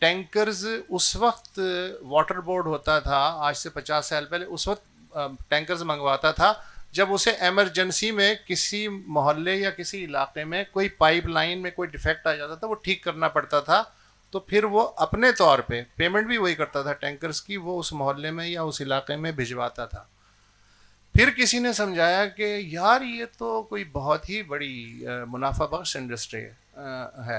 Tankers اس وقت water board هوتا ٿا آج سي پچاس سال پهلي اس وقت ٽينڪرز منگواتا ٿا جب اسي ايمرجنسي مين ڪسي محلي يا ڪسي علاقي مين ڪوئي پائپ لائين مين ڪوئي ڊيفيڪٽ آ جاتا ٿا وو ٺيڪ ڪرنا پڙتا ٿا تو پھر وو اپني طور پي پيمنٽ بي وهي ڪرتا ٿا ٽينڪرز ڪي وو اس محلي مين يا اس علاقي مين ڀجواتا ٿا پھر ڪسي ني سمجهايا ڪي يار يي تو ڪوئي بهت هي بڙي منافع بخش انڊسٽري هي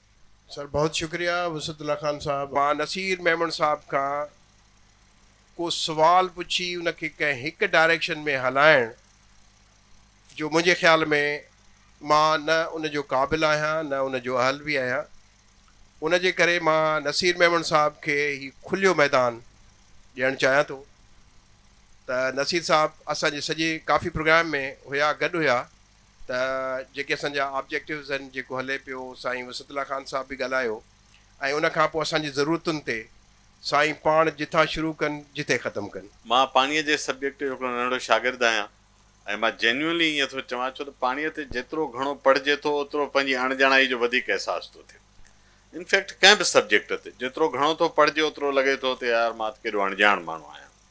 سر بهت شڪريا وسعت الله خان صاحب. مان نصير ميمڻ صاحب کان ڪو سوال پڇي ان کي ڪنهن هڪ ڊائريڪشن ۾ هلائڻ جو منهنجي خيال ۾ مان نه ان جو قابل آهيان نه ان جو اهل به آهيان ان جي ڪري مان نصير ميمڻ صاحب کي هي کليو ميدان ڏيڻ چاهيان ٿو ته نصير صاحب اسان جي سڄي ڪافي پروگرام ۾ هيا گڏ هيا ته جيڪي اسان جا آبجيڪٽوز آهن جيڪو هلي پيو سائين وسعت الله خان صاحب به ڳالهايو ۽ ان کان پوء اسان جي ضرورتن تي سائين پاڻ جتان شروع ڪن جتي ختم ڪن. مان پاڻيء جي سبجيڪٽ جو هڪڙو ننڍڙو شاگرد آهيان ۽ مان جينيونلي ائين ٿو چوان ڇو ته پاڻيء تي جيترو گهڻو پڙهجي ٿو اوترو پنهنجي اڻ ڄاڻائي جو وڌيڪ احساس ٿو ٿئي انفيڪٽ ڪنهن به سبجيڪٽ تي جيترو گهڻو ٿو پڙهجي اوترو لڳي ٿو ته يار مان ته ڪيڏو اڻڄاڻ ماڻهو آهيان.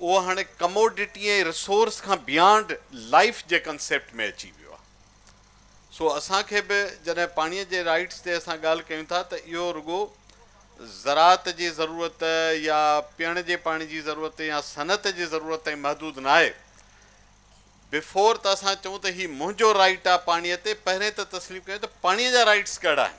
اهو هاڻي ڪموڊٽي ۽ رسورس کان بيانڊ لائيف جي ڪنسيپٽ ۾ اچي ويو آهي. سو اسان کي به جڏهن پاڻي جي رائيٽس تي اسان ڳالهه ڪيون ٿا ته اهو رڳو زراعت جي ضرورت يا پيئڻ جي پاڻي جي ضرورت يا صنعت جي ضرورت تائين محدود ناهي. بيفور ته اسان چئون ته هي منهنجو رائيٽ آهي پاڻي تي پهرين ته تسليم ڪيون ته پاڻي جا رائيٽس ڪهڙا آهن.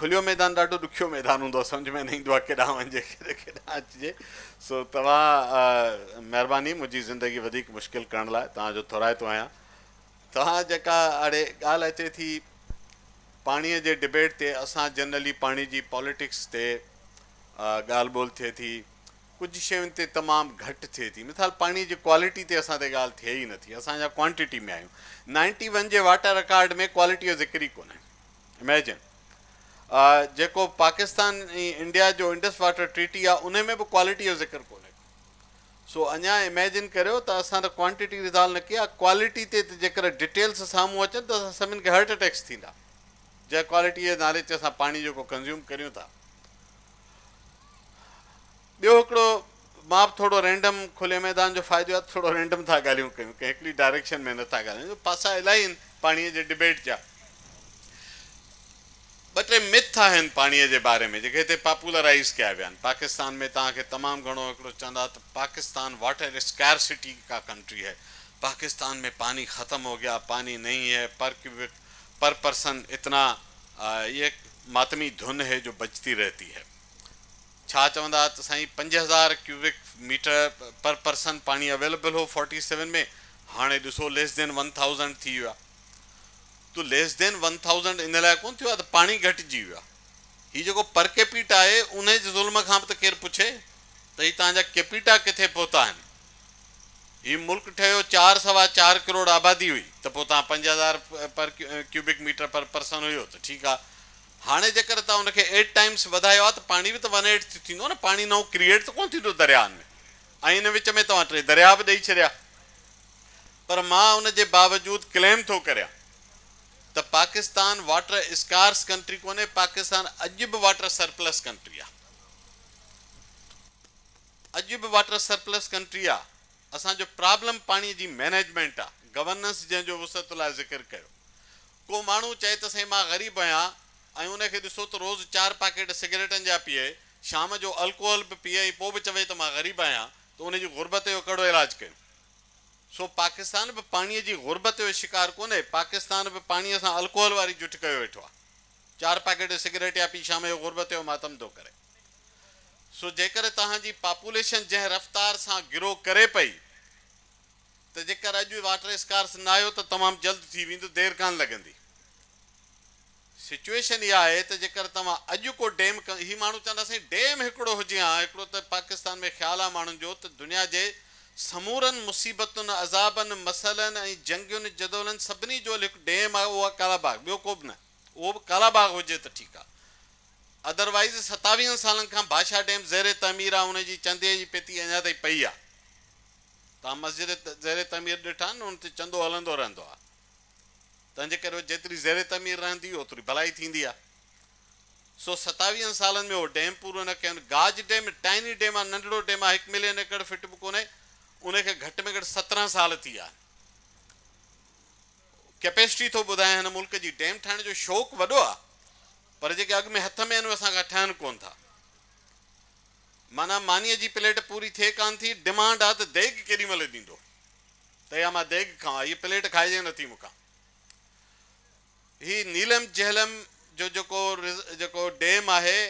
کليو ميدان ڏاڍو ڏکيو ميدان هوندو آهي سمجهه ۾ نه ايندو آهي ڪيڏانهن وڃجي ڪيڏانهن اچجي سو توهان مهرباني منهنجي زندگي وڌيڪ مشڪل ڪرڻ لاء توهان جو ٿورائتو آهيان توهان جيڪا اڙي ڳالهه اچي ٿي پاڻي جي ڊبيٽ تي اسان جنرلي پاڻي جي پاليٽڪس تي ڳالهه ٻولهه ٿئي ٿي ڪجهه شين تي تمام گهٽ ٿئي ٿي مثال پاڻي جي ڪوالٽي تي اسان تي ڳالهه ٿئي ئي نه ٿي اسان جا ڪوانٽٽي ۾ آهيون نائنٽي ون جي واٽر رڪارڊ ۾ ڪوالٽي جو ذڪر ئي ڪونهي اميجن جيڪو پاڪستان ۽ انڊيا جو انڊس واٽر ٽريٽي آهي ان ۾ به ڪوالٽي جو ذڪر ڪونهي ڪو سو اڃا اميجن ڪريو ته اسان ته ڪوانٽٽي ريزالو نه ڪئي آهي ڪوالٽي تي ته جيڪر ڊيٽيلس سامهون اچن ته اسان سڀني کي هارٽ اٽيڪس ٿيندا جنهن ڪوالٽي جي نالي تي اسان پاڻي جيڪو ڪنزيوم ڪريون ٿا ٻيو هڪڙو مان به ٿورڙو رينڊم کلي ميدان جو فائدو آهي ته ٿورڙو رينڊم ٿا ڳالهيون ڪيون ڪنهن هڪڙي ڊائريڪشن ۾ نه ٿا ڳالهايون جو پاسا الائي آهن پاڻيء جي ڊبيٽ جا ٻه ٽي مٿ آهن پاڻيء جي باري ۾ جيڪي هتي پاپولرائيز ڪيا ويا آهن پاڪستان ۾ توهان کي تمام گهڻو هڪڙو چوندا ته پاڪستان واٽر اسڪيئرسٽي ڪا ڪنٽري هي پاڪستان ۾ پاني ختم هو گيا پاني نهين هي پر ڪيوبڪ پر پرسن اتنا اي ماتمي ڌن هي جو بجتي رهتي هي. ڇا چوندا ته سائين پنج هزار ڪيوبڪ ميٽر پر پرسن پاڻي اويلبل هو فورٽي سيون ۾ هاڻي ڏسو ليس دين ون ٿائوزنڊ ٿي ويو آ تو ليس دين ون ٿائوزنڊ ان لاء ڪون ٿيو آ ته پاڻي گهٽجي ويو آ هي جيڪو پر ڪيپيٽا آهي انهي جي ظلم کان به ته ڪير پڇي ته هي تهان جا ڪيپيٽا ڪٿي پهتا آهن هي ملڪ ٺهيو چار سوا چار ڪروڙ آبادي هئي ته پوء توهان پنج هزار per cubic meter per person هيو ته ٺيڪ آ هاڻي جيڪر توهان ان کي ايٽ ٽائمس وڌايو آ ته پاڻي به ته ون ايٽ ٿي ٿيندو نه پاڻي نئون ڪريئيٽ ته ڪونه ٿيندو درياهن ۾ ۽ ان وچ ۾ توهان ٽي درياهه به ڏئي ڇڏيا پر مان ان جي باوجود ڪليم ٿو ڪريان ته پاڪستان واٽر اسڪارس ڪنٽري ڪونهي پاڪستان اڄ به واٽر سرپلس ڪنٽري آ. اڄ به واٽر سرپلس ڪنٽري آ، اسان جو پرابلم پاڻي جي مينيجمينٽ آ، گورننس جنهن جو وسعت الله ذڪر ڪيو. ڪو ماڻهو چئي ته سائين مان غريب آهيان ۽ ان کي ڏسو ته روز چار پاڪيٽ سگريٽن جا پيئي، شام جو الڪوهل به پيئي ۽ پوء به چوي ته مان غريب آهيان ته ان جي غربت جو ڪهڙو علاج ڪيون؟ سو پاڪستان به پاڻي جي غربت جو شڪار ڪونهي، پاڪستان به پاڻي سان الڪوهل واري جٺ ڪيو ويٺو آ. چار پاڪيٽ سگريٽ يا پي شام جو غربت جو ماتم ٿو ڪري. سو جيڪر توهان جي پاپوليشن جنهن رفتار سان گرو ڪري پئي ته جيڪر اڄ واٽر اسڪارس نه آيو ته تمام جلد ٿي ويندو دير ڪانه لڳندي سچوئيشن اها آهي ته جيڪر توهان اڄ ڪو ڊيم هي ماڻهو چوندا سائين ڊيم هڪڙو هجي ها هڪڙو ته پاڪستان ۾ خيال آهي ماڻهن جو ته دنيا جي سمورن مصيبتن عذابن مسئلن ۽ جنگين جدولن سڀني جو هل هڪ ڊيم آهي اهو آهي ڪالا باغ ٻيو ڪوبه نه اهو به ڪالا باغ هجي ته ٺيڪ آ ادر وائيز ستاويهن سالن کان باشا ڊيم زير تعمير آ ان جي چندي جي پيتي اڃا تائين پئي آ توهان مسجد زير تعمير ڏٺا آهن ان تي چندو هلندو رهندو آ تنهن جي ڪري جيتري زير تعمير رهندي اوتري ڀلائي ٿيندي آ سو ستاويهن سالن ۾ اهو ڊيم پورو نه ڪيون گاج ڊيم ٽائني ڊيم آ ننڍڙو ڊيم آ هڪ ملين ايڪڙ فٽ به ڪونهي ان کي گهٽ ۾ گهٽ سترهن سال ٿي ويا آهن. ڪيپيسٽي ٿو ٻڌايان هن ملڪ جي ڊيم ٺاهڻ جو شوق وڏو آ پر جيڪي اڳ ۾ هٿ ۾ آهن اهي اسان کان ٺهن ڪون ٿا معنيٰ مانيء جي پليٽ پوري ٿئي ڪان ٿي ڊمانڊ آ ته ديڳ ڪيڏي مهل ڏيندو ته يا مان ديڳ کاوان هيء پليٽ کائجي نٿي مون کان هي نيلم جهلم جو جيڪو جيڪو ڊيم آهي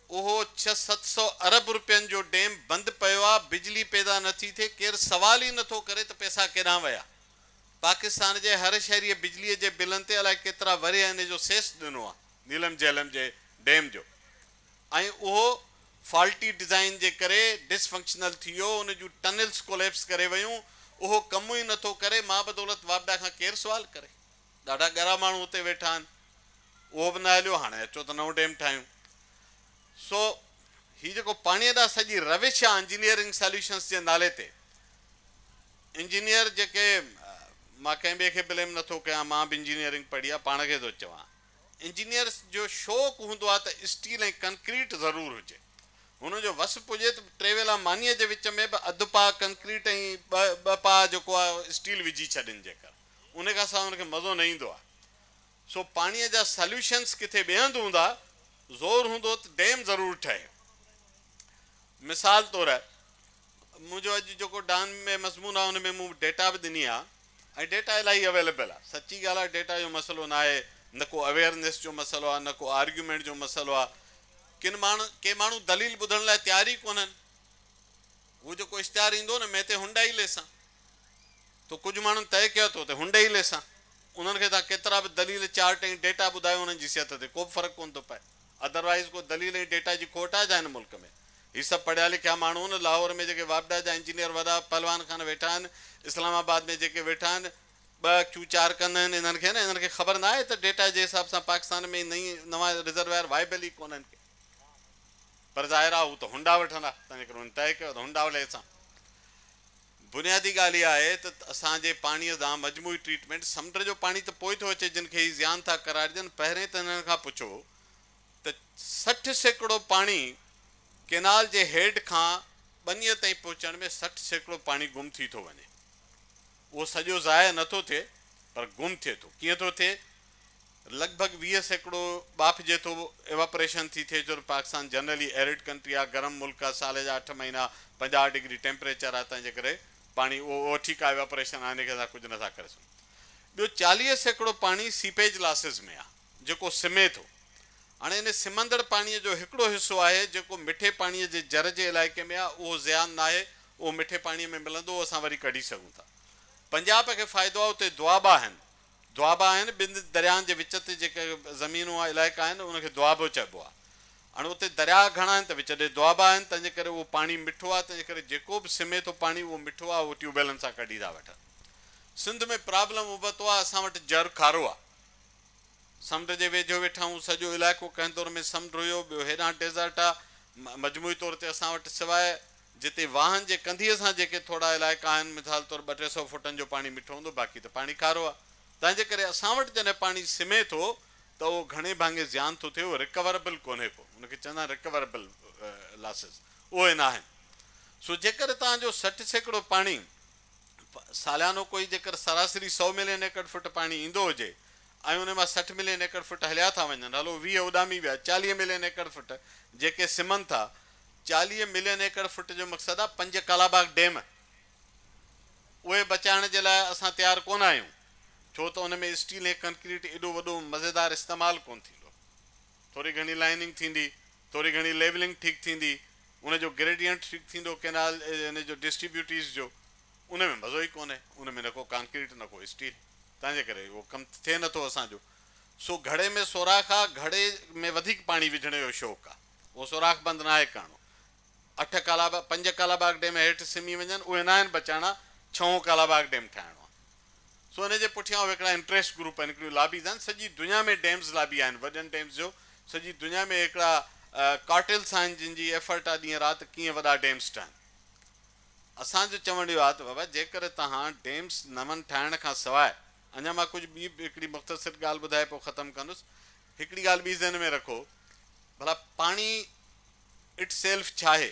اهو ڇهه ست سؤ ارب روپين جو ڊيم بند پيو آ بجلي پيدا نه ٿي ٿئي ڪير سوال ئي نه ٿو ڪري ته پئسا ڪيڏانهن ويا پاڪستان جي هر شهريء بجلي جي بلن تي الائي ڪيترا ورهيه انهي جو سيس ڏنو آ نيلم جهلم جي ڊيم جو ۽ اهو فالٽي ڊزائين جي ڪري ڊس فنڪشنل ٿي ويو ان جون ٽنلس ڪوليپس ڪري ويون اهو ڪم ئي نه ٿو ڪري مابدولت واپڊا کان ڪير سوال ڪري. ڏاڍا ڳرا ماڻهو اتي ويٺا آهن. اهو به نه هليو، هاڻي اچو ته نئون ڊيم ٺاهيون. سو هي جيڪو پاڻيء ڏانهن سڄي روش آهي انجنيئرنگ ساليوشنس جي نالي تي، انجنيئر جيڪي، مان ڪنهن ٻئي کي بليم نٿو ڪيان، مان به انجنيئرنگ پڙهي آهي، پاڻ کي ٿو چوان. انجنيئرس جو شوق هوندو آهي ته اسٽيل ۽ ڪنڪريٽ ضرور هجي. هنن جو وس پڄي ته ٽي ويلا مانيء جي وچ ۾ به اڌ پاء ڪنڪريٽ ۽ ٻه ٻه پاء جيڪو آهي اسٽيل وجهي ڇڏين جيڪر. ان کان سواء ان کي مزو نه ايندو آهي. سو پاڻيء جا ساليوشنز ڪٿي ٻئي هنڌ هوندا، زور هوندو ته ڊيم ضرور ٺهي. مثال طور منهنجو اڄ جيڪو ڊان ۾ مضمون آهي ان ۾ مون ڊيٽا به ڏني آهي ۽ ڊيٽا الاهي اويليبل آهي. سچي ڳالهه آهي ڊيٽا جو مسئلو ناهي، نه ڪو اويئرنيس جو مسئلو آهي، نه ڪو آرگيومينٽ جو مسئلو آهي. ڪن ماڻهن ڪي ماڻهو دليل ٻڌڻ لاء تيار ئي ڪونهن. هو جيڪو اشتهار ايندو نه مين تي هنڊائي ليسان. تو ڪجهه ماڻهن طئي ڪيو اٿو ته هنڊئي ليسان انهن کي تان ڪيترا به دليل، چارٽ ۽ ڊيٽا ٻڌايو انهن جي صحت تي ڪوبه فرق ڪونه ٿو پئي. ادروائيز ڪو دليل ۽ ڊيٽا جي کوٽ آهي ڇا هن ملڪ ۾؟ هي سڀ پڙهيا لکيا ماڻهو آهن لاهور ۾ جيڪي واپڊا جا انجنيئر وڏا پهلوان خان ويٺا آهن اسلام آباد ۾ جيڪي ويٺا آهن ٻه اکيون چار ڪن آهن انهن کي نه انهن کي خبر نه آهي ته ڊيٽا جي حساب سان پاڪستان ۾ نئين نوان رزرويار وائبل ئي ڪونه آهن پر ظاهر آهي هو ته هنڊا وٺندا تنهنجي ڪري هن طئي ڪيو ته هنڊا ليسان. بنيادي ڳالهه اها آهي ته اسان جي پاڻيء ڏانهن مجموعي ٽريٽمينٽ، سمنڊ جو پاڻي ته پوء ٿو اچي جن کي هي زيان ٿا قرارڏين پهرين ته هنن کان پڇو ته سٺ سيڪڙو پاڻي ڪينال جي هيڊ کان ٻنيء تائين پهچڻ ۾ سٺ سيڪڙو پاڻي گم ٿي ٿو وڃي اهو سڄو ضايع نٿو ٿئي پر گم ٿئي ٿو ڪيئن ٿو ٿئي لڳ ڀڳ ويهه سيڪڙو ٻاڦ جيٿو Evaporation ٿي ٿئي ڇو ته پاڪستان جنرلي Arid ڪنٽري آ، گرم ملڪ آ، سال جا اٺ مهينا پنجاهه ڊگري ٽيمپريچر آ تنهنجي ڪري پاڻي اهو اهو ٺيڪ آ Evaporation آهي ان کي اسان ڪجهه نه ٿا ڪري سگهون. ٻيو چاليهه سيڪڙو پاڻي Seepage Losses ۾ آ جيڪو سمي ٿو. هاڻي ان سمندڙ پاڻي جو هڪڙو حصو آهي جيڪو مٺي پاڻي جي جر جي علائقي ۾ آ اهو زيان ناهي اهو مٺي پاڻي ۾ ملندو اهو اسان وري ڪڍي سگهون ٿا. پنجاب کي فائدو آ اتي دوآبا آهن دوآبا آهن، ٻن درياهن جي وچ تي جيڪي زمينون يا علائقا آهن، ان کي دوآبو چئبو آهي. هاڻ اتي درياهه گهڻا آهن ته وچ ڏي دوآبا آهن، تنهن جي ڪري اهو پاڻي مٺو آهي، تنهن جي ڪري جيڪو به سمي ٿو پاڻي اهو مٺو آهي، اهو ٽيوب ويلن سان ڪڍي ٿا وٺن. سنڌ ۾ پرابلم ابتو آهي، اسان وٽ جر کارو آهي. سمنڊ جي ويجهو ويٺا آهيون، سڄو علائقو ڪنهن دور ۾ سمنڊ هيو، ٻيو هيڏانهن ڊيزرٽ آهي، مجموعي طور تي اسان وٽ سواء جتي واهن جي ڪنڌيء سان جيڪي ٿورا علائقا آهن، مثال طور ٻه ٽي سئو فوٽن جو پاڻي مٺو هوندو، باقي ته پاڻي کارو آهي. تنهنجي ڪري اسان وٽ جڏهن پاڻي سمهي ٿو ته اهو گهڻي ڀاڱي زيان ٿو ٿئي، اهو رڪوربل ڪونهي ڪو. ان کي چوندا آهن رڪوربل لاسز. اهي ناهن. سو جيڪر توهان جو سٺ سيڪڙو پاڻي ساليانو ڪوئي جيڪر سراسري سئو ملين ايڪڙ فٽ پاڻي ايندو هجي ۽ انهي مان سٺ ملين ايڪڙ فٽ هليا ٿا وڃن، هلو ويهه اڏامي ويا، چاليهه ملين ايڪڙ فٽ جيڪي سمهن ٿا چاليهه ملين ايڪڙ فٽ جو مقصد آهي پنج ڪالاباغ ڊيم اهي بچائڻ جي لاء اسان تيار ڪونه آهيون ڇو ته ان ۾ اسٽيل ۽ ڪنڪريٽ ايڏو وڏو مزيدار استعمال ڪونه ٿيندو ٿوري گهڻي لائيننگ ٿيندي ٿوري گهڻي ليولنگ ٺيڪ ٿيندي ان جو گريڊينٽ ٺيڪ ٿيندو ڪينال ان جو ڊسٽريبيوٽيز جو ان ۾ مزو ئي ڪونه ان ۾ نه ڪو ڪانڪريٽ نه ڪو اسٽيل تنهن جي ڪري اهو ڪم ٿئي نه ٿو اسان جو سو گهڙي ۾ سوراخ آهي گهڙي ۾ وڌيڪ پاڻي وجهڻ جو شوق آهي. اهو سوراخ بند ناهي ڪرڻو. اٺ ڪالاباغ، پنج ڪالاباغ ڊيم هيٺ سمي وڃن، اهي ناهن بچائڻا، ڇهون ڪالاباغ ڊيم ٺاهڻو آهي. سو ان جي پٺيان اهي هڪڙا انٽريسٽ گروپ آهن، هڪڙيون لابيز آهن، سڄي دنيا ۾ ڊيمز لابي آهن، وڏن ڊيمز جو سڄي دنيا ۾ هڪڙا ڪارٽيلس آهن، جن جي ايفرٽ آهي ڏينهن رات ته ڪيئن وڏا ڊيمز ٺهن. اسان جو چوڻ اهو آهي ته بابا جيڪر توهان ڊيمز نون ٺاهڻ کان سواء، اڃا مان ڪجهه ٻي به هڪڙي مختصر ڳالهه ٻڌائي پوء ختم ڪندس، هڪڙي ڳالهه ٻي ذهن ۾ رکو، ڀلا پاڻي اٽ سيلف ڇا آهي؟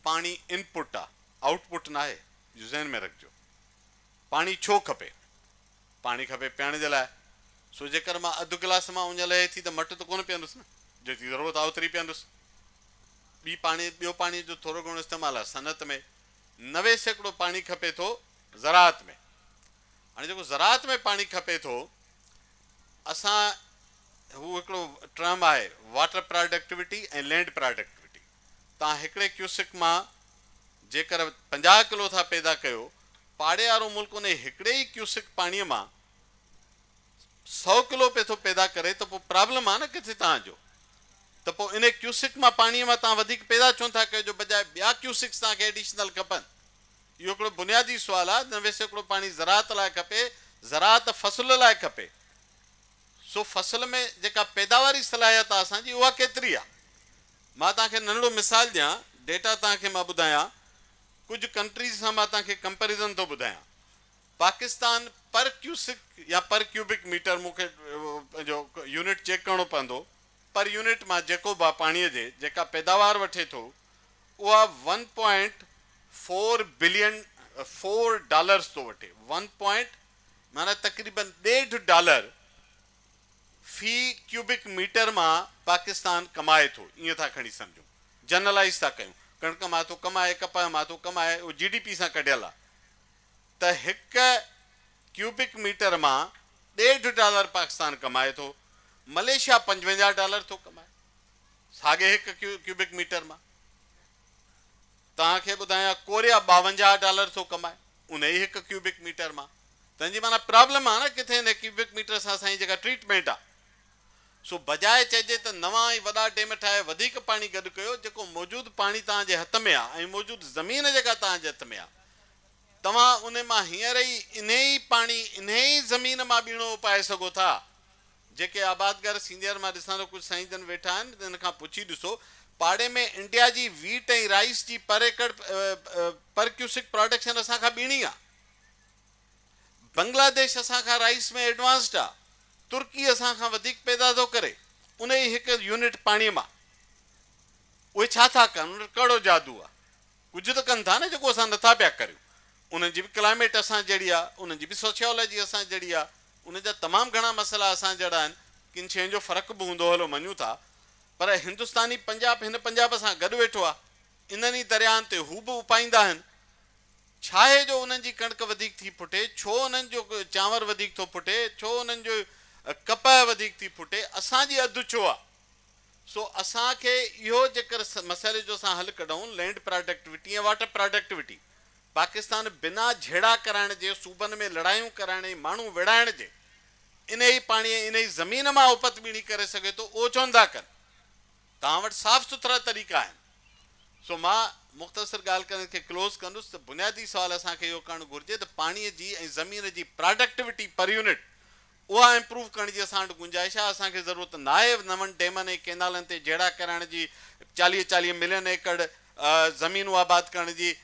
پاڻي ان پٽ آ، آئوٽ پٽ ناهي، اهو ذهن ۾ رکجو. پاڻي ڇو کپي؟ پاڻي کپي پيئڻ جي لاء، سو جيڪر مان اڌ گلاس مان اڃ لهي ٿي ته مٽ ته ڪونه پيئندس نه، جيتري ضرورت آ اوتري پيئندس. ٻي پاڻي ٻيو پاڻي جو ٿورو گهڻو استعمال آ صنعت ۾ نوي سيڪڙو پاڻي کپي ٿو زراعت ۾. هاڻي جيڪو زراعت ۾ پاڻي کپي ٿو اسان هو هڪڙو ٽرم آهي واٽر پراڊڪٽوٽي ۽ لينڊ پراڊڪٽوٽي تان هڪڙي ڪيوسڪ مان جيڪر پنجاهه ڪلو ٿا پيدا ڪيو پاڙي وارو ملڪ انهي هڪڙي ئي ڪيوسڪ پاڻي مان سؤ ڪلو پئي ٿو پيدا ڪري ته پو پرابلم آهي نه ڪٿي تان جو ته پو انهي ڪيوسڪ مان پاڻي مان تان وڌيڪ پيدا ڇونه ٿا ڪيو جو بجاء ٻيا ڪيوسڪس تان کي ايڊيشنل کپن اهو هڪڙو بنيادي سوال آهي ته ويسي هڪڙو پاڻي زراعت لاء کپي، زراعت فصل لاء کپي، سو فصل ۾ جيڪا پيداواري صلاحيت آهي اسان جي اها ڪيتري آهي؟ مان توهان کي ننڍڙو مثال ڏيان، ڊيٽا توهان کي مان ٻڌايان، ڪجهه ڪنٽريز سان مان توهان کي ڪمپيرزن ٿو ٻڌايان، پاڪستان پر ڪيوسڪ يا پر ڪيوبڪ ميٽر مون کي پنهنجو يونٽ چيڪ ڪرڻو پوندو، پر يونٽ مان جيڪوب آهي پاڻيء جي جيڪا پيداوار وٺي ٿو اها one point four billion four dollars ٿو وٺي ون پوائنٽ معنيٰ تقريبن ڏيڍ ڊالر في ڪيوبڪ ميٽر مان پاڪستان ڪمائي ٿو ائين ٿا کڻي سمجهون جنرلائيز ٿا ڪيون ڪڻڪ مان ٿو ڪمائي ڪپهه مان ٿو ڪمائي اهو جي ڊي پي سان ڪڍيل آهي ته هڪ ڪيوبڪ ميٽر مان ڏيڍ ڊالر پاڪستان ڪمائي ٿو ملائيشيا پنجونجاهه ڊالر ٿو ڪمائي ساڳئي هڪ ڪيوبڪ ميٽر مان توهان کي ٻڌايان ڪوريا ٻاونجاهه ڊالر ٿو ڪمائي ان ئي هڪ ڪيوبڪ ميٽر مان تنهن جي معنيٰ پرابلم آهي نه ڪٿي ان ڪيوبڪ ميٽر سان اسان جي جيڪا ٽريٽمينٽ آهي سو بجاء چئجي ته نوان ۽ وڏا ڊيم ٺاهي وڌيڪ پاڻي گڏ ڪيو جيڪو موجود پاڻي توهان جي هٿ ۾ آهي ۽ موجود زمين جيڪا توهان جي هٿ ۾ آهي توهان ان مان هينئر ئي انهي ئي پاڻي انهي ئي زمين مان ٻيڻو اپائي سگهو ٿا جيڪي آبادگار سينيئر مان ڏسان ٿو ڪجهه سائين جن ويٺا آهن انهن کان پڇي ڏسو پاڙي ۾ انڊيا جي ويٽ ۽ رائيس جي per acre per cusec production اسان کان ٻيڻي آ بنگلاديش اسان کان رائيس ۾ ايڊوانسڊ آ ترڪي اسان کان وڌيڪ پيدا ٿو ڪري انهي هڪ يونٽ پاڻي مان اهي ڇا ٿا ڪن انهن وٽ ڪهڙو جادو آ. ڪجهه ته ڪن ٿا نه جيڪو اسان نٿا پيا ڪريون. انهن جي به ڪلائميٽ اسان جهڙي آ، انهن جي به سوشيالاجي اسان جهڙي آ، انهن جا تمام گهڻا مسئلا اسان جهڙا آهن، ڪن شين جو فرق به هوندو هلو مڃون ٿا، پر هندستاني پنجاب هن پنجاب سان گڏ ويٺو آ، انهن ئي درياهن تي هو به اپائيندا آهن، ڇاهي جو انهن جي ڪڻڪ وڌيڪ ٿي ڦٽي، ڇو انهن جو چانور وڌيڪ ٿو ڦٽي، ڇو انهن جو ڪپهه وڌيڪ ٿي ڦٽي، اسان جي اڌ ڇو آ؟ سو اسان کي اهو جيڪر مسئلي جو اسان حل ڪڍئون land productivity ۽ water productivity Pakistan بنا جهيڙا ڪرائڻ جي صوبن ۾ لڙايون ڪرائڻ ۽ ماڻهو ويڙهائڻ جي انهي پاڻي ۽ انهي زمين مان اوپت ٻيڻي ڪري سگهي ٿو اهو ڇو نٿا ڪن توهان وٽ صاف سٿرا طريقا آهن سو مان مختصر ڳالهه ڪري ان کي ڪلوز ڪندس ته بنيادي سوال اسان کي اهو ڪرڻ گهرجي ته پاڻي جي ۽ زمين جي پراڊڪٽوٽي پر يونٽ اها امپروو ڪرڻ جي اسان وٽ گنجائش آهي، اسان کي ضرورت ناهي نون ڊيمن ۽ ڪينالن تي جهيڙا ڪرائڻ جي، چاليهه چاليهه ملين ايڪڙ زمينون آباد ڪرڻ جي،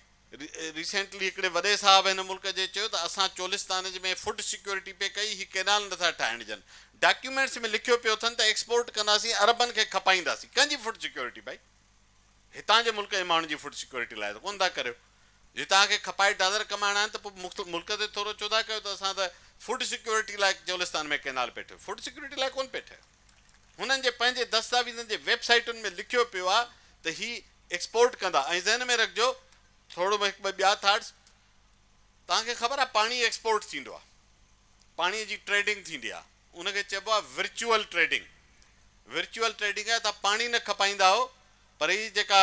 ريسينٽلي هڪڙي وڏي صاحب هن ملڪ جي چيو ته اسان چولستان جي ۾ فوڊ سيڪيورٽي پئي ڪئي هي ڪينال نٿا ٺاهڻ ڏين، ڊاڪيومينٽس ۾ لکيو پيو اٿن ته ايڪسپورٽ ڪنداسين عربن کي کپائينداسين، ڪنهن جي فوڊ سيڪيورٽي ڀائي؟ هتان جي ملڪ جي ماڻهن جي فوڊ سيڪيورٽي لاء ته ڪونه ٿا ڪريو. جي توهان کي کپائي ڊالر ڪمائڻا آهن ته پوء مختلف ملڪ تي ٿورو ڇو ٿا ڪيو ته اسان ته فوڊ سيڪيورٽي لاء چولستان ۾ ڪئنال پئي ٺهيو فوڊ سيڪيورٽي لاء ڪونه پئي ٺهي. هنن جي پنهنجي دستاويزن جي ويب سائيٽن ۾ لکيو پيو آهي ته هي ايڪسپورٽ ڪندا ۽ ذهن ۾ رکجو ٿورو هڪ ٻه ٻيا ٿاٽس توهان کي خبر آهي پاڻي ايڪسپورٽ ٿيندو آهي پاڻي جي ٽريڊنگ ٿيندي آهي. ان کي چئبو آهي ورچوئل ٽريڊنگ ورچوئل ٽريڊنگ آهي تان پاڻي نه کپائيندا آهو پر هي جيڪا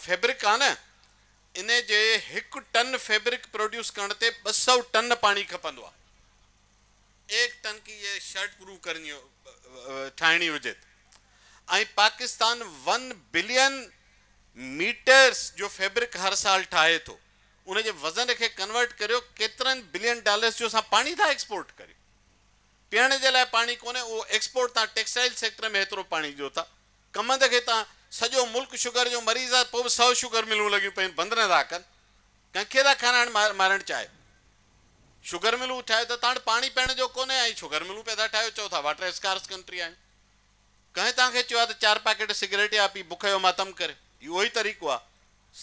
فيبرڪ آهي نه ان جي هڪ ٽن فيبرڪ پروڊيوس ڪرڻ تي ٻه سؤ ٽن پاڻي کپندو آهي ايڪ ٽن ڪي يي شرٽ پرو ڪرني ٺاهڻي هجي ته ۽ پاڪستان ون بلين ميٽرس جو فيبرڪ هر سال ٺاهي ٿو. ان جي وزن کي ڪنورٽ ڪريو ڪيترن بلين ڊالرس جو اسان پاڻي ٿا ايڪسپورٽ ڪريون پيئڻ جي لاء پاڻي ڪونهي اهو ايڪسپورٽ تان ٽيڪسٽائل سيڪٽر ۾ هيترو پاڻي ڏيو ٿا ڪمند کي تان سڄو ملڪ شگر جو مريض آهي پوء به سؤ شگر ملون لڳيون پيون بند نه ٿا ڪن ڪنهن کي ٿا کارائڻ مارڻ چاهيو شگر ملون ٺاهيو ته تان وٽ پاڻي پيئڻ جو ڪونهي ۽ شگر ملون پيا ٿا ٺاهيو چئو ٿا واٽر اسڪارس ڪنٽري آهيون. ڪنهن توهان کي چيو آ ته چار پاڪيٽ سگريٽ يا پي بک جو ماتم ڪر. هي اهو ئي طريقو آ.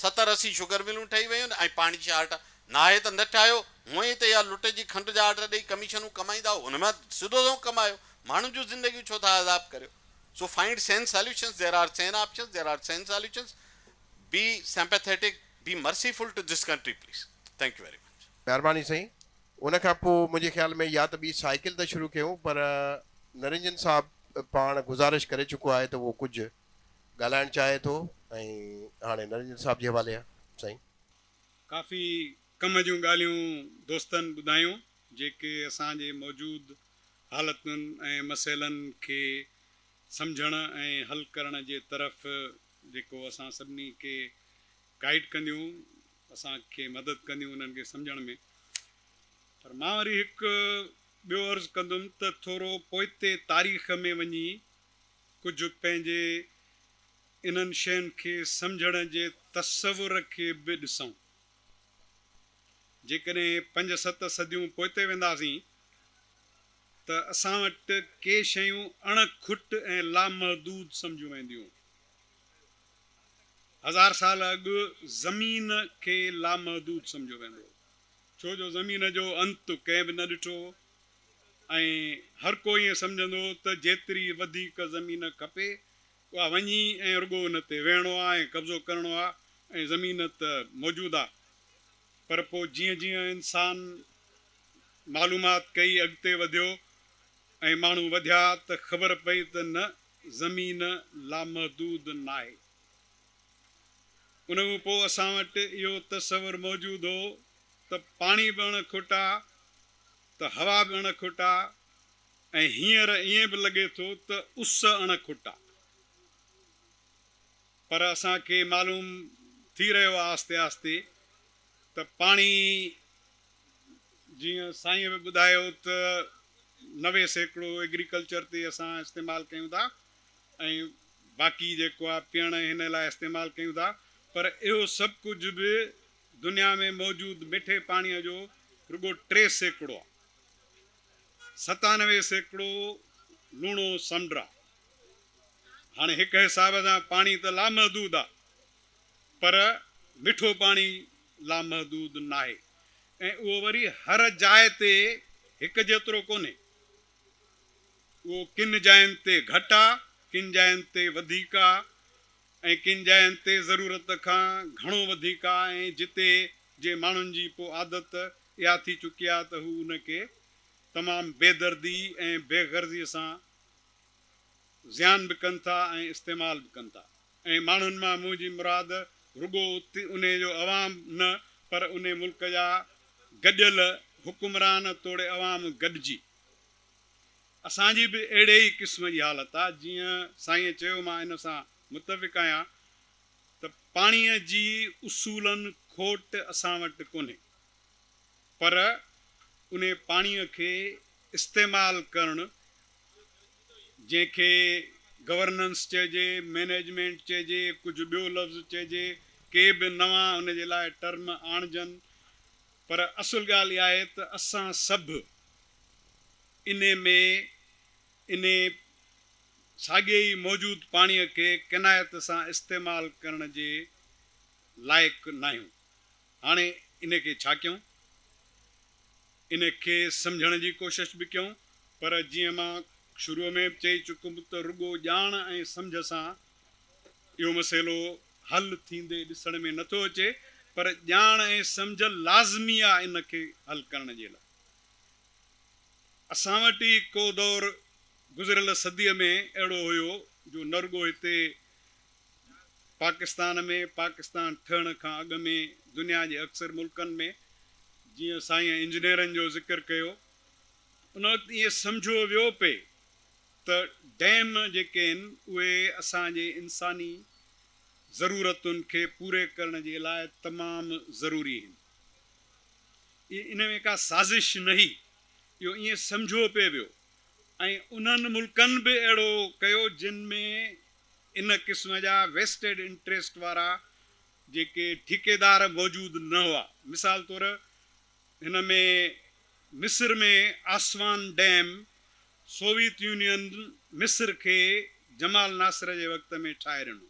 ستر اسي شگر ملون ٺهي ويون ۽ پاڻي جي شارٽ ناهي ته نه ٺاهيو. هونء ئي ته اها لٽ جي کنڊ جا آرڊر ڏئي ڪميشنون ڪمائيندا هو. ان مان سڌو سنئون ڪمايو. ماڻهن جون زندگيون ڇو ٿا عذاب ڪريو. سو فائنڊ سين ساليوشنس ديئر آر سين آپشنس ديئر آر سين solutions be sympathetic be merciful to this country please thank you very much. مھرباني سائين ان کان پوء منهنجي خيال ۾ يا ته ٻي سائيڪل تان شروع ڪيون پر نرنجن صاحب پاڻ گذارش ڪري چڪو آهي ته اهو ڪجهه ڳالهائڻ چاهي ٿو ۽ هاڻي نرنجن صاحب جي حوالي سائين. ڪافي ڪم جون ڳالهيون دوستن ٻڌايون جيڪي اسان جي موجود حالتن ۽ مسئلن کي سمجهڻ ۽ حل ڪرڻ جي طرف جيڪو اسان سڀني کي گائيڊ ڪنديون. اسان کي مدد ڪنديون انهن کي سمجهڻ ۾. پر مان وري هڪ ٻيو عرض ڪندم ته ٿورو پوئتي تاريخ ۾ وڃي ڪجهه پنهنجي انهن شين کي سمجهڻ جي تصور کي به ڏسون. جيڪڏهن پنج ست صديون پوئتي وينداسين ته اسان وٽ ڪي شيون اڻ کٽ ۽ لامحدود سمجهيون وينديون. هزار سال اڳ زمين کي لامحدود سمجهيو ويندو هو، ڇو جو زمين جو انت ڪنهن به نه ڏٺو هو ۽ هر ڪو ائين سمجهندو هو ته جيتري وڌيڪ زمين کپي اها وڃي ۽ رڳو ان تي ويهڻو آهي ۽ قبضو ڪرڻو آهي ۽ زمين ته موجود آهي پر پوء جيئن جيئن انسان معلومات ڪئي اڳتي وڌيو ۽ ماڻهو وڌيا ته خبر پئي ته نه زمين لامحدود ناهي. ان کان پوء اسان وٽ اهو تصور موجود هو ته پاڻي به اڻ کوٽا ته هوا به اڻ کوٽا ۽ هينئر ائين به لڳي ٿو ته اس اڻ کوٽا. پر اسان کي معلوم ٿي رهيو آهي آهستي آهستي. ته پاڻي جيئن سائين به ٻڌايو ته نوي سيڪڙو ايگريڪلچر تي اسان استعمال ڪيون ٿا ۽ باقي جيڪو آهي پيئڻ ۽ هن لاء استعمال ڪيون ٿا پر اهو سڀ ڪجهه به دنيا ۾ موجود مٺي پاڻي جو رڳو ٽي سيڪڙو آهي ستانوي سيڪڙو لوڻو سمنڊ آهي هاڻي هڪ حساب سان پاڻي ته لامحدود آهي پر مٺو پاڻي لامحدود ناهي ۽ اهو وري هر جاء تي هڪ جيترو ڪونهي. اهو ڪن جاين تي گهٽ آ، ڪن جاين تي وڌيڪ آ ۽ ڪن جاين تي ضرورت کان گهڻو وڌيڪ آ ۽ جتي جي ماڻهن جي پو عادت اها ٿي چڪي آ ته هو ان کي تمام بي دردي ۽ بي غرضي سان زيان به ڪن ٿا ۽ استعمال به ڪن ٿا. ۽ ماڻهن مان منهنجي مراد رڳو انهي جو عوام نه پر انهي ملڪ جا گڏيل حڪمران توڙي عوام گڏجي اسان جي به اهڙي ئي قسم جي حالت آ جيئن سائينء چيو مان ان سان متفق آهيان ته پاڻيء جي اصولن کوٽ اسان وٽ ڪونهي پر انهي پاڻيء کي استعمال ڪرڻ جنهن کي گورننس چئجي، مئنيجمينٽ چئجي، ڪجهه ٻيو لفظ چئجي، ڪي به نوان ان جي لاء ٽرم آڻجن پر اصل ڳالهه اها آهي ته اسان سڀ انهي ۾ انهي ساڳئي ئي موجود پاڻيء کي قناعت سان استعمال ڪرڻ جي لائق ناهيون. هاڻي ان کي ڇا ڪيون؟ ان کي سمجهڻ جي ڪوشش به ڪيون پر جيئن مان شروع ۾ به چئي چڪم ته رڳو ڄاڻ ۽ سمجهه سان اهو مسئلو حل ٿيندي ڏسڻ ۾ نٿو اچي پر ڄاڻ ۽ سمجهه لازمي آ ان کي حل ڪرڻ جي لاء اسان وٽ ئي ڪو دور گذريل صديء ۾ اهڙو هيو جو نه رڳو هتي پاڪستان ۾ پاڪستان ٺهڻ کان اڳ ۾ دنيا جي اڪثر ملڪن ۾ جيئن سائين انجنيئرن جو ذڪر ڪيو ان وقت ائين سمجهيو ويو پئي ته ڊيم جيڪي آهن اهي اسان جي انساني ضرورتن کي پوري ڪرڻ جي لاء تمام ضروري آهن اهي ان ۾ ڪا سازش نهي اهو ائين سمجهيو پئي ويو ۽ انهن ملڪن به اهڙو ڪيو جن ۾ ان قسم جا ويسٽيڊ انٽريسٽ وارا جيڪي ٺيڪيدار موجود نه هئا. مثال طور هن ۾ مصر ۾ آسوان ڊيم سوويت يونين مصر کي جمال ناصر جي وقت ۾ ٺاهي ڏنو.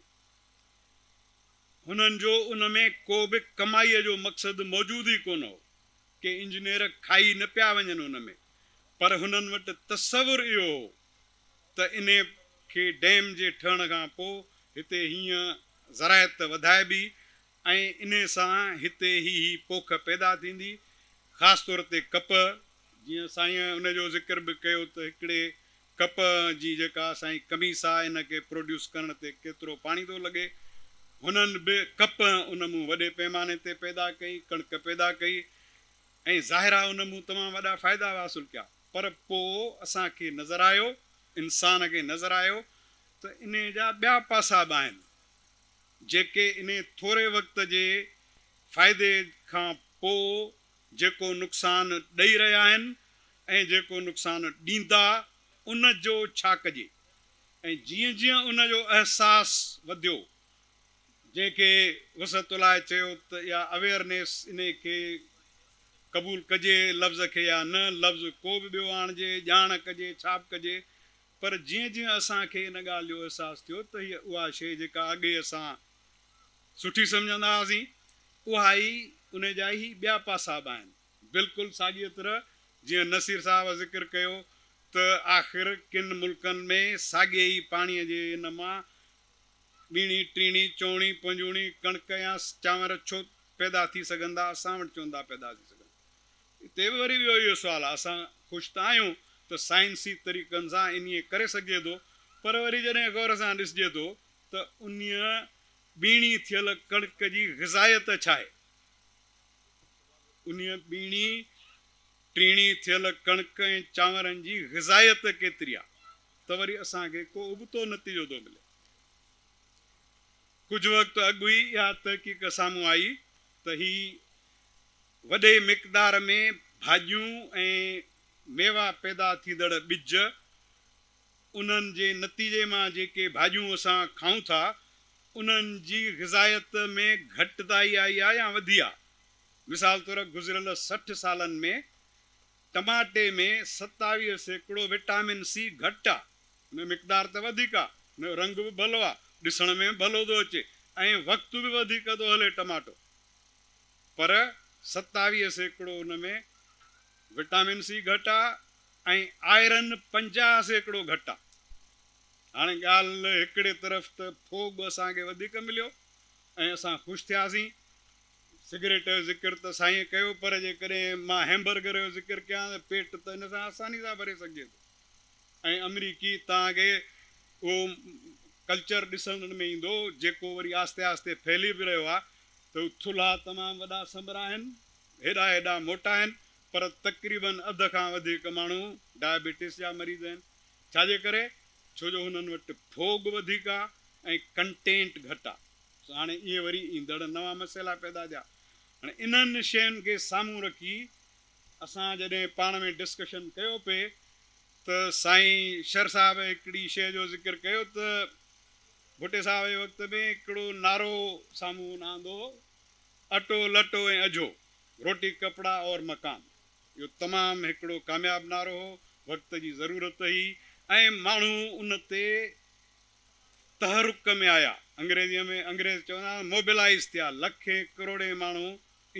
هنن جو ان ۾ ڪو به ڪمائيء جو مقصد موجود ئي ڪونه هو. ڪي انجنيئر کائي نه پيا وڃن ان ۾ پر هنن وٽ تصور اهو هو ته انهي کي ڊيم جي ٺهڻ کان پوء هتي هيئن زراعت وڌائبي ۽ انهي سان هتي هي هي پوک پيدا ٿيندي خاص طور تي ڪپهه، جيئن سائين ان جو ذڪر به ڪيو ته هڪڙي ڪپهه جي جيڪا سائين قميص آ ان کي پروڊيوس ڪرڻ تي ڪيترو پاڻي ٿو لڳي، هنن به ڪپهه ان مون وڏي پيماني تي پيدا ڪئي، ڪڻڪ پيدا ڪئي ۽ ظاهر آ ان مون تمام وڏا فائدا حاصل ڪيا. پر پوء اسان کي نظر آيو، انسان کي نظر آيو ته انهيء جا ٻيا پاسا به آهن، جيڪي انهيء ٿوري وقت جي فائدي کان پوء جيڪو نقصان ڏئي رهيا آهن ۽ جيڪو نقصان ڏيندا، ان جو ڇا ڪجي؟ ۽ جيئن جيئن ان جو احساس وڌيو، جنهن کي وسعت الله چيو ته اها اويئرنيس انهي کي قبول ڪجي لفظ کي يا نه لفظ ڪو به ٻيو آڻجي ڄاڻ ڪجي ڇا به ڪجي پر جيئن جيئن اسان کي ان ڳالهه جو احساس ٿيو ته هيء اها شيء جيڪا اڳي اسان سٺي سمجهندا هئاسين اها ئي انهي جا ئي ٻيا پاسا به آهن بلڪل ساڳيء طرح جيئن نصير صاحب ذڪر ڪيو ته آخر ڪن ملڪن ۾ ساڳي ئي پاڻيء جي ان مان ٻيڻي، ٽيڻي، چوڻي، پنجوڻي، ڪڻڪ يا چانور ڇو پيدا ٿي سگهن ٿا؟ اسان وٽ چون ٿا پيدا ٿي سگهن. اتي به وري ٻيو اهو سوال آهي، اسان خوش ته آهيون ته سائنسي طريقن سان انهي ڪري سگهجي ٿو، پر وري جڏهن غور سان ڏسجي ٿو ته انهي ٻيڻي ٿيل ڪڻڪ جي غذائيت ڇا آهي؟ انهي ٻيڻي، ٽيڻي، ٿيل ڪڻڪ ۽ چانورن جي غذائيت ڪيتري آهي؟ ته وري اسان کي ڪو ابتو نتيجو ٿو ملي. ڪجهه وقت اڳ ئي اها تحقيق سامهون آئي ته هي وڏي مقدار ۾ ڀاڄيون ۽ ميوا پيدا ٿيندڙ ٻج، انهن جي نتيجي مان جيڪي ڀاڄيون اسان کائون ٿا، انهن جي غذائيت ۾ گهٽتائي آئي آهي يا وڌي آهي. مثال طور گذريل سٺ سالن ۾ ٽماٽي ۾ ستاويهه سيڪڙو وٽامن سي گهٽ آ ان جو مقدار ته وڌيڪ آ ان جو رنگ به ڀلو آ ڏسڻ ۾ به ڀلو ٿو اچي ۽ وقت به وڌيڪ ٿو هلي ٽماٽو پر ستاويهه سيڪڙو ان ۾ وٽامن سي گهٽ آ ۽ آئرن پنجاهه سيڪڙو گهٽ آ هاڻي ڳالهه هڪڙي طرف ته ڦوڳ اسان کي وڌيڪ مليو ۽ اسان خوش ٿياسين سگريٽ جو ذڪر ته سائينء ڪيو پر جيڪڏهن مان هيمبرگر جو ذڪر ڪيان ته پيٽ ته ان سان آساني سان ڀري سگهجي ٿو ۽ آمريڪي توهان کي اهو ڪلچر ڏسڻ ۾ ايندو جيڪو وري آهستي آهستي ڦهلي به رهيو آهي ته ٿلها تمام وڏا سمرا آهن هيڏا هيڏا موٽا آهن پر تقريباً اڌ کان وڌيڪ ماڻهو ڊائبيٽس جا مريض آهن ڇا جي ڪري ڇو جو هنن وٽ ڦوڳ وڌيڪ آهي ۽ ڪنٽينٽ گهٽ آهي سو هاڻي اهي وري ايندڙ نوان مسئلا پيدا ٿيا. هاڻي انهن شين کي سامهون رکي اسان جڏهن پاڻ ۾ ڊسڪشن ڪيو پئي ته سائين شر صاحب هڪڙي شيء جو ذڪر ڪيو ته ڀٽي صاحب جي وقت ۾ هڪڙو نعرو سامهون آندو هو اٽو لٽو ۽ اجهو، روٽي ڪپڙا اور مڪان، اهو تمام هڪڙو ڪامياب نعرو هو، وقت جي ضرورت هئي ۽ ماڻهو ان تي. تحرڪ ۾ آيا، انگريزيء ۾ انگريز چوندا آهن Mobilize ٿيا، لکين ڪروڙين ماڻهو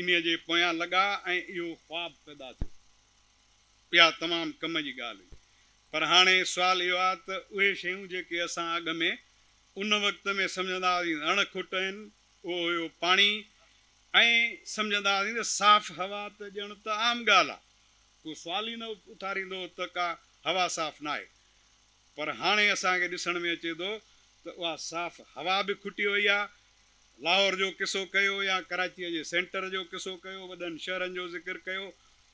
انهيء جي پويان لڳا ۽ اهو خواب پيدا ٿيو. اها تمام ڪم جي ڳالهه هئي. پر هاڻي سوال اهو آهي ته اهي شيون جيڪي اسان اڳ ۾ ان وقت ۾ سمجهندا هئاسين ته اڻ کٽ آهن، اهو هيو پاڻي ۽ سمجهندا هئاسين ته صاف هوا ته ڄڻ ته عام ڳالهه آهي، ڪو سوال ئي نه اٿاريندو هو ته ڪا هوا صاف ناهي. پر هاڻي اسان کي ڏسڻ ۾ اچي ٿو ته اها صاف هوا به کٽي وئي آهي. لاهور جو قصو ڪيو يا ڪراچيء جي سينٽر جو قصو ڪيو، وڏن شهرن جو ذڪر ڪيو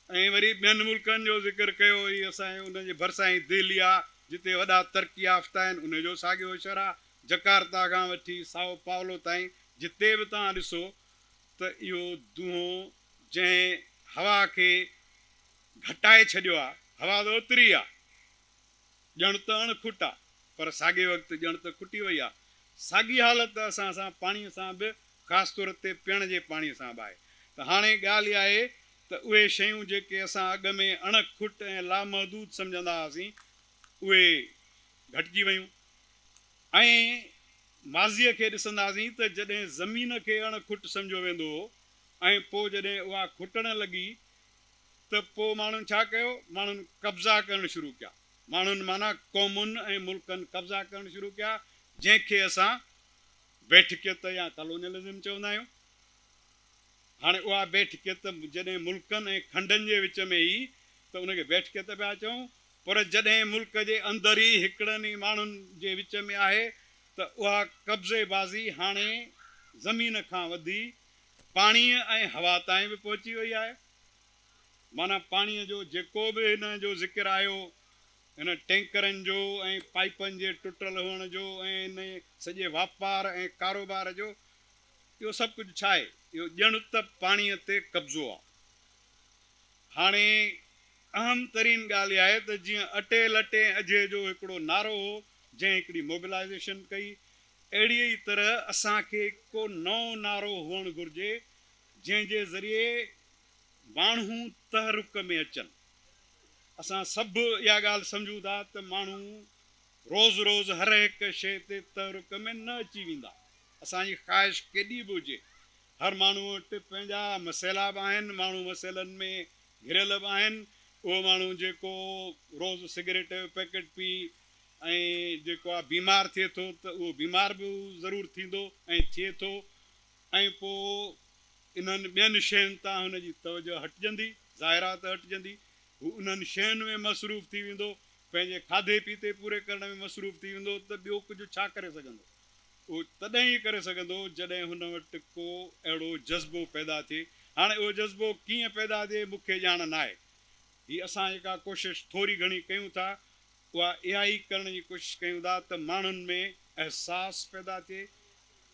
۽ وري ٻين ملڪن جو ذڪر ڪيو هي اسان جي ان جي ڀرسان ئي دهلي آهي جتي وڏا ترقي يافته آهن ان جو ساڳيو شھر آهي جڪارتا کان وٺي سائو پائولو تائين جتي به توهان ڏسو ته اهو دونهو جنهن هوا کي گهٽائي ڇڏيو آهي هوا ته اوتري آهي. ڄڻ ته اڻ کٽ آ، پر ساڳئي وقت ڄڻ ته کٽي وئي آ. ساڳي حالت ته اسان سان پاڻي سان به خاص طور تي پيئڻ جي پاڻي سان به آهي. ته هاڻي ڳالهه اها آهي ته اهي شيون جيڪي اسان اڳ ۾ اڻ کٽ ۽ لامحدود سمجهندا هئاسين اهي گهٽجي ويون ۽ ماضيء کي ڏسنداسين ته جڏهن زمين کي اڻ کٽ سمجهيو ويندو هو ۽ پوء جڏهن اها کٽڻ لڳي ته پوء ماڻهن ڇا ڪيو؟ ماڻهن قبضا ڪرڻ شروع ڪيا. ماڻهن معنيٰ قومن ۽ ملڪن قبضا ڪرڻ شروع ڪيا، جنهن کي اسان بيٺڪيت يا ڪالونيلزم چوندا آهيون. هاڻي اها بيٺڪيت جڏهن ملڪن ۽ کنڊن جي وچ ۾ ئي ته ان کي بيٺڪيت پيا چئون، پر جڏهن ملڪ جي اندر ئي هڪڙن ئي ماڻهن جي وچ ۾ آهي ته اها قبضي بازي هاڻي زمين کان وڌي پاڻيء ۽ هوا تائين به پهچي وئي آهي. معنيٰ پاڻيء جو جيڪو به هن جو ذڪر آيو، هن ٽينڪرن جو ۽ پائيپن جي ٽٽل هئڻ جو ۽ ان سڄي واپار ۽ ڪاروبار جو، اهو سڀ ڪجهه ڇا آهي؟ اهو ڄڻ ته پاڻيء تي قبضو آهي. هاڻي اهم ترين ڳالهه اها آهي ته جيئن اٽي لٽي ۽ اجهي جو هڪڙو نعرو هو، جنهن هڪڙي موبلائيزيشن ڪئي، اهڙيء ئي طرح اسان کي ڪو نئون نعرو هئڻ گهرجي، جنهن جي ذريعي ماڻهو تحرڪ ۾ اچن. اسان سڀ اها ڳالهه سمجهون ٿا ته ماڻهو روز روز هرهڪ شيء تي تحرڪ ۾ نه اچي ويندا، اسان جي خواهش ڪيڏي به هجي. هر ماڻهو وٽ پنهنجا مسئلا به آهن، ماڻهو مسئلن ۾ گهريل به آهن. اهو ماڻهو جيڪو روز سگريٽ جو پيڪٽ پي، ۽ جيڪو آ بيمار ٿئي ٿو ته اهو بيمار به ضرور ٿيندو ۽ ٿئي ٿو ۽ پوء انهن ٻين شين تان هن جي توجه هٽجندي، ظاهر آ ته هٽجندي، هو انهن شين ۾ مصروف ٿي ويندو، پنهنجي کاڌي پيتي پوري ڪرڻ ۾ مصروف ٿي ويندو ته ٻيو ڪجهه ڇا ڪري سگهندو؟ اهو تڏهن ئي ڪري سگهندو جڏهن هن وٽ ڪو اهڙو جذبو پيدا ٿئي، هاڻي اهو جذبو ڪيئن پيدا ٿئي مون کي ڄاڻ ناهي، هي اسان جيڪا ڪوشش ٿوري گهڻي ڪيون ٿا اها اها ئي ڪرڻ جي ڪوشش ڪيون ٿا ته ماڻهن ۾ احساس پيدا ٿئي،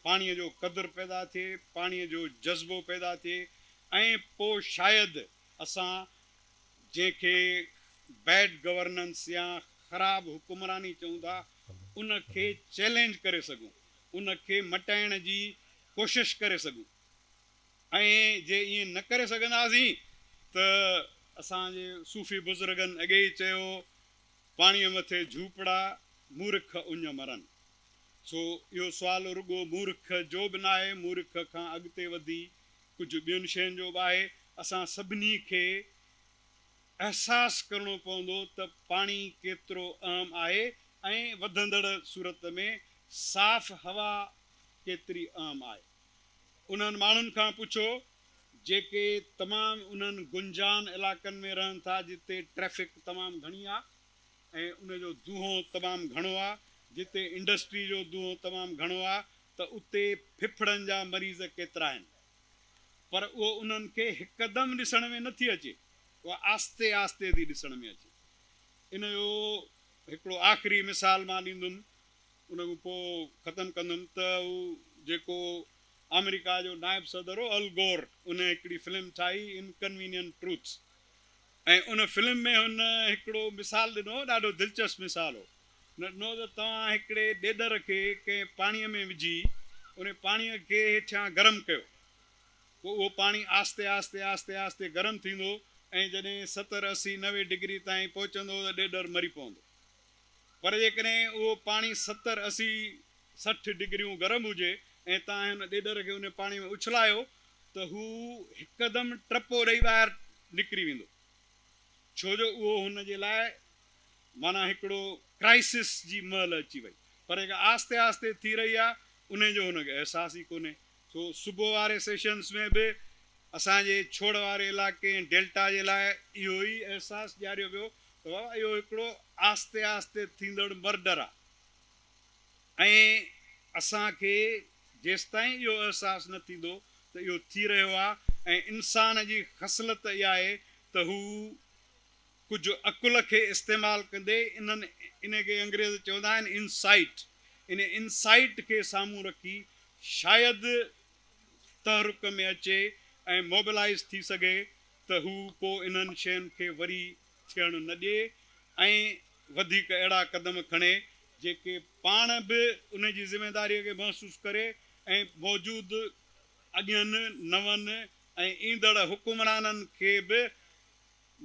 پاڻيء جو قدر پيدا ٿئي، پاڻيء جو جذبو پيدا ٿئي ۽ پوء شايد اسان جنهن کي بيڊ گورننس يا خراب حڪمراني چئون ٿا ان کي چئلينج ڪري سگهون، ان کي مٽائڻ جي ڪوشش ڪري سگهون. ۽ جي ائين نه ڪري سگهنداسين ته اسان جي صوفي بزرگن اڳي ئي چيو پاڻيء مٿي جهوپڙا مورک اڃ مرن. سو اهو سوال رڳو مورک جو به ناهي، مورک کان اڳتي وڌي ڪجهه ٻين شين جو به آهي. اسان سڀني کي احساس ڪرڻو پوندو ته پاڻي ڪيترو اهم آهي ۽ وڌندڙ صورت ۾ صاف هوا ڪيتري اهم آهي. انهن ماڻهن کان پڇو جيڪي تمام انهن گنجان علائقن ۾ رهن ٿا جتي ٽريفڪ تمام گهڻي آهي ۽ ان جو دونهون تمام گهڻو آهي جتي انڊسٽري جو دونهون تمام گهڻو آهي ته اتي ڦڦڙن جا مريض ڪيترا آهن پر اهو انهن کي هڪدم ڏسڻ ۾ نٿي اچي اهو آهستي آهستي ٿي ڏسڻ ۾ اچي ان جو هڪڙو آخري مثال مان ڏيندم ان کان پوء ختم ڪندم ته هو جيڪو آمريڪا جو نائب صدر هو ال گور ان هڪڙي فلم ٺاهي Inconvenient Truths ۽ ان فلم ۾ هن هڪڙو مثال ڏنو هو ڏاڍو دلچسپ مثال هو هن ڏنو ته توهان هڪڙي ڏيڏر کي ڪنهن پاڻي ۾ وجهي ان پاڻي کي هيٺيان گرم ڪيو پوء اهو پاڻي آهستي آهستي آهستي آهستي گرم ٿيندو ۽ جڏهن ستر اسي نوي ڊگري تائين پهچندو ته ڏيڏر مري پوندو پر جيڪڏهن اهو پاڻي ستر، اسي، سٺ ڊگريون گرم هجي ۽ توهان هن ڏيڏر کي ان پاڻي ۾ اڇلايو ته هو هڪدم ٽپو ڏئي ٻاهر نڪري ويندو ڇو جو اهو هن جي لاء معنيٰ هڪڙو ڪرائسس جي مهل اچي وئي پر جيڪا آهستي آهستي ٿي رهي آهي انهي جو هن کي احساس ئي ڪونهي سو صبح واري سيشنز ۾ به اسان جي ڇوڙ واري علائقي ۽ ڊيلٽا جي لاء اهو ئي احساس ڏياريو ويو ته بابا اهو هڪڙو آهستي آهستي ٿيندڙ مرڊر آهي ۽ اسان کي جيستائين اهو احساس نه ٿيندو ته اهو ٿي رهيو آهي ۽ انسان جي خصلت اها آهي ته هو ڪجهه عقل کي استعمال ڪندي انهن ان کي انگريز چوندا آهن Insight ان Insight کي سامهون رکي شايد تحرڪ ۾ اچي ۽ موبلائيز ٿي سگهي ته هو پو انهن شين کي وري ٿيڻ نه ڏئي ۽ وڌيڪ اهڙا قدم کڻي جيڪي پاڻ به ان جي ذميداري کي محسوس ڪري ۽ موجود اڳين نون ۽ ايندڙ حڪمرانن کي به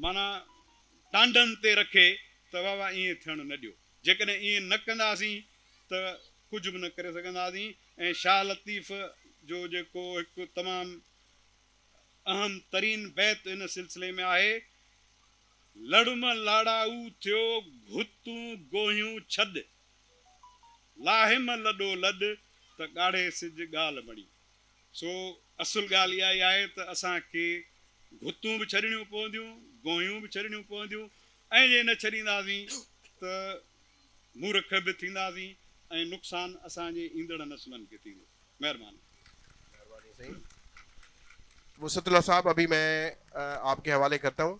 معنيٰ ٽانڊن تي رکي ته واھ واھ ائين ٿيڻ نه ڏيو. جيڪڏهن ائين نه ڪنداسين ته ڪجهه به نه ڪري سگهنداسين ۽ شاھ لطيف جو جيڪو هڪ تمام اهم ترين بيت ان سلسلي ۾ آهي، لڙم لاڙائو ٿيو گهتون گوهيون ڇڏ، لاهيم لڏو لڏ ته ڳاڙهي سج ڳالهه بڻي. سو اصل ڳالهه اها ئي آهي ته اسان کي گهتون به ڇڏڻيون پونديون، گونهيون به ڇڏڻيون پونديون ۽ جي نه ڇڏينداسين ته مورک به ٿينداسين ۽ نقصان اسان جي ايندڙ نسلن کي ٿيندو. مهرباني. مهرباني سائين وسعت الله صاحب ابهي مين آپ ڪي حوالي ڪرتا هون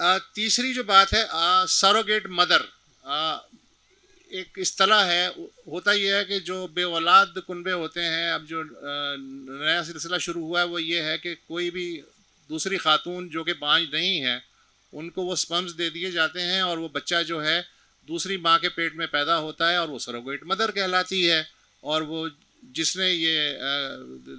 آ تيسري جو بات هي آ سروگيٽ مدر آ ايڪ اصطلاح هي هوتا يي هي ڪي جو بي اولاد ڪنبي هوتي هين اب جو نيا سلسله شروع هوا هي وو يي هي ڪي ڪوئي بي دوسري خاتون جو ڪي بانج نهين هي ان ڪو وو سپمز دي ديي جاتي هين اور وو بچه جو هي دوسري مان ڪي پيٽ مين پيدا هوتا هي اور وو سروگيٽ مدر ڪهلاتي هي اور وو جس ني يي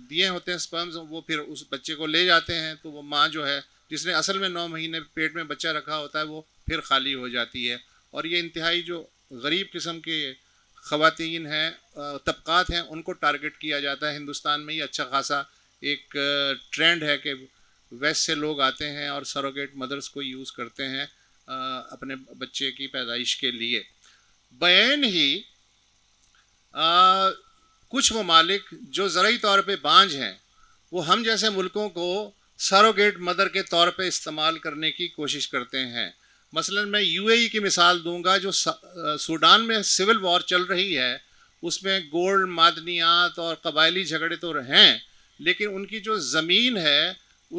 ديي هوتي هين سپمز وو پھر اس بچه ڪو لي جاتي هين تو وو مان جو هي جس ني اصل مين نو مهيني پيٽ مين بچه رکا هوتا هي وو ڦر خالي هو جاتي هي اور يه انتهائي جو غريب قسم ڪي خواتين هي طبقات هي ان ڪو ٽارگيٽ ڪيا جاتا هي هندوستان مين يه اچها خاصا ايڪ ٽرينڊ هي ڪي ويسٽ سي لوگ آتي هي اور سروگيٽ مدرس ڪو يوز ڪرتي هي اپني بچه ڪي پيدائش ڪي ليي بين هي ڪجهه ممالڪ جو زرعي طور پي بانجھ هي وو هم جيسي ملڪون ڪو سروگيٽ مدر ڪي طور پي استعمال ڪرني ڪي ڪوشش ڪرتي هين مثلا مين يو اي اي ڪي مثال دون گا جو سوڊان مين سول وار چل رهي هي اس مين گولڊ معدنيات اور قبائلي جهگڙي تو هين ليڪن ان ڪي جو زمين هي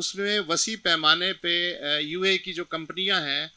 اس مين وسيع پيماني پي يو اي اي ڪي جو ڪمپنيان هين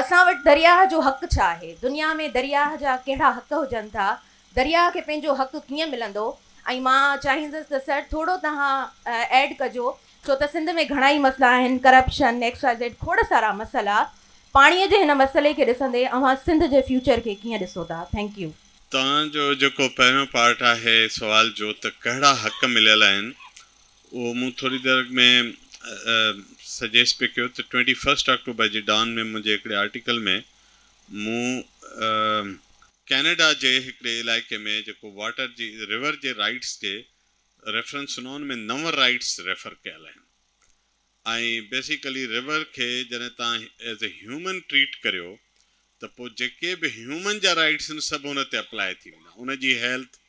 اسان وٽ درياهه جو حق ڇا آهي؟ دنيا ۾ درياهه جا ڪهڙا حق هجن ٿا؟ درياهه کي پنهنجو حق ڪيئن ملندو؟ ۽ مان چاهيندس ته سر ٿورو توهان ايڊ ڪجو ڇو ته سنڌ ۾ گهڻائي مسئلا آهن ڪرپشن ايڪس وائي زيڊ کوڙ سارا مسئلا پاڻي جي هن مسئلي کي ڏسندي اوهان سنڌ جي فيوچر کي ڪيئن ڏسو ٿا ٿينڪ يو. توهان جو جيڪو پهريون پارٽ آهي سوال جو ته ڪهڙا حق مليل آهن اهو مون ٿوري دير اڳ ۾ سجيسٽ پئي ڪيو ته ٽوئنٽي فرسٽ آڪٽوبر جي ڊان ۾ منهنجي هڪڙي آرٽيڪل ۾ مون ڪينيڊا جي هڪڙي علائقي ۾ جيڪو واٽر جي ريور جي رائيٽس جي ريفرنس سنو ان ۾ نو رائيٽس ريفر ڪيل آهن ۽ بيسيڪلي ريور کي جڏهن تان ايز اي هيومن ٽريٽ ڪريو ته پوء جيڪي به هيومن جا رائيٽس آهن سڀ ان تي اپلائي ٿي ويندا ان جي هيلٿ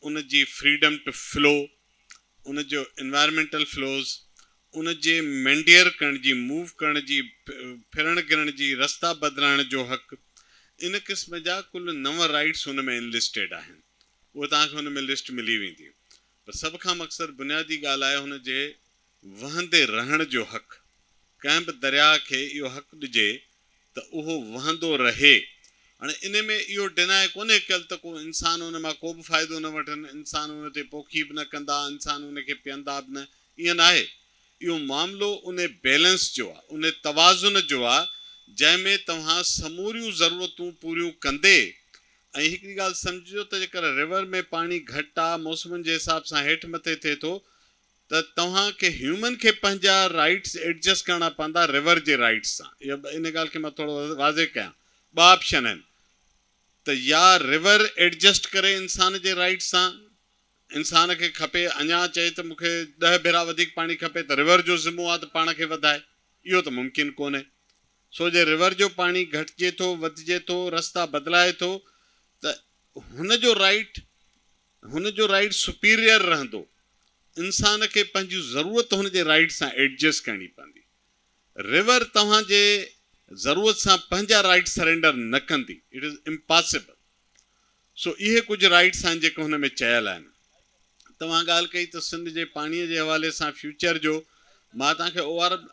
ان جي فريڊم ٽو فلو، ان جو انوائرمينٽل فلوز، ان جي مينڊيئر ڪرڻ جي، موو ڪرڻ جي، ڦرڻ گرڻ جي، رستا بدلائڻ جو حق، ان قسم جا ڪل نو رائيٽس هن ۾ انلسٽيڊ آهن. اهي توهان کي هن ۾ لسٽ ملي ويندي. پر سڀ کان مختصر بنيادي ڳالهه آهي هن جي وهندي رهڻ جو حق، ڪنهن به درياء کي اهو حق ڏجي ته اهو وهندو رهي هاڻي ان ۾ اهو ڊينائي ڪونهي ڪيل ته ڪو انسان ان مان ڪو به فائدو نه وٺن، انسان ان تي پوکي به نه ڪندا، انسان ان کي پيئندا به نه، ائين ناهي، اهو معاملو ان بيلنس جو آ، ان توازن جو آ جنهن ۾ توهان سموريون ضرورتون پوريون ڪندي ۽ هڪڙي ڳالهه سمجهجو ته جيڪر ريور ۾ پاڻي گهٽ آ، موسمن جي حساب سان هيٺ مٿي ٿئي ٿو، ته توهان کي هيومن کي پنهنجا رائيٽس ايڊجسٽ ڪرڻا پوندا رور جي رائيٽس سان اها ان ڳالهه کي مان ٿورو واضح ڪيان ٻه آپشن آهن ته يا رور ايڊجسٽ ڪري انسان جي رائيٽس سان انسان کي کپي اڃا چئي ته مون کي ڏهه ڀيرا وڌيڪ پاڻي کپي ته رور جو ذمو آ ته پاڻ کي وڌائي اهو ته ممڪن ڪونهي سو جي رور جو پاڻي گهٽجي ٿو وڌجي ٿو رستا بدلائي ٿو ته هن جو رائيٽ هن جو رائيڊ سپيريئر رهندو. انسان کي پنهنجي ضرورت هن جي رائيڊ سان ايڊجسٽ ڪرڻي پوندي. ريور توهان جي ضرورت سان پنهنجا رائيڊ سرينڊر نه ڪندي. It is impossible. سو اهي ڪجهه رائيڊس آهن جيڪي هن ۾ چيل آهن. توهان ڳالهه ڪئي ته سنڌ جي پاڻي جي حوالي سان فيوچر جو. مان توهان کي